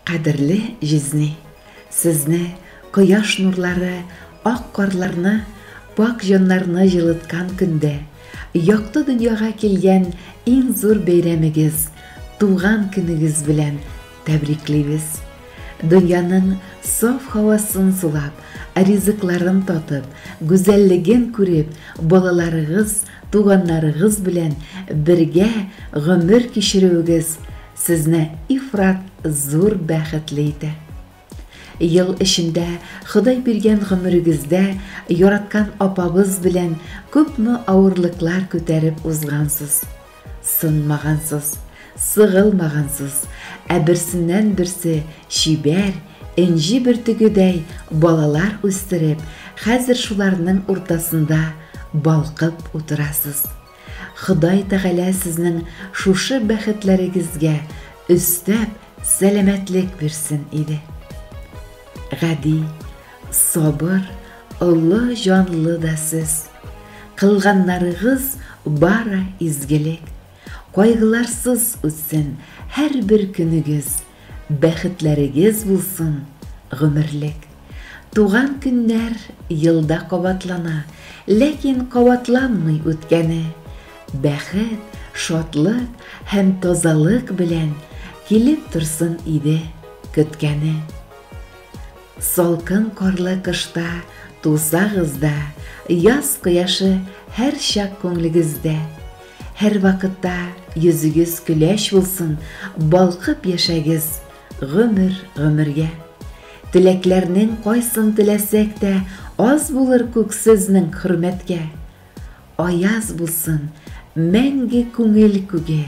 Кадерле җизни! Сезне кояш нурлары ак карларны, пакь җаннарны җылыткан көндә, якты дөньяга килгән иң зур бәйрәмегез, туган көнегез белән тәбриклибез! Дөньяның саф һавасын сулап, ризыкларын татып, гүзәллеген күреп, балаларыгыз, туганнарыгыз белән бергә гомер кичерүегез Сезне ифрат зур бәхетле итә. Ел эчендә Ходай биргән гомерегездә яраткан апабыз белән күпме авырлыклар күтәреп узгансыз. Сынмагансыз, сыгылмагансыз, ә берсеннән-берсе чибәр, энҗе бөртегедәй балалар үстереп, хәзер шуларның уртасында балкып утырасыз. Ходай Тәгалә сезнең шушы бәхетләрегезгә өстәп сәламәтлек бирсен иде. Гади, сабыр, олы җанлы да сез. Кылганнарыгыз бары изгелек. Кайгыларсыз үтсен һәрбер көнегез. Бәхетләрегез булсын, гомерлек. Туган көннәр елда кабатлана, ләкин кабатланмый үткәне. Бәхет, шатлык һәм тазалык белән килеп торсын иде көткәне. Салкын карлы кышта тусагыз да, яз кояшы һәрчак күңлегездә. Һәрвакытта йөзегез көләч булсын, балкып яшәгез гомер гомергә. Теләкләрнең кайсын теләсәк тә, аз булыр күк сезнең хөрмәткә. Аяз булсын мәңге күңел күге,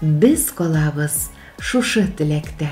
без калабыз шушы теләктә.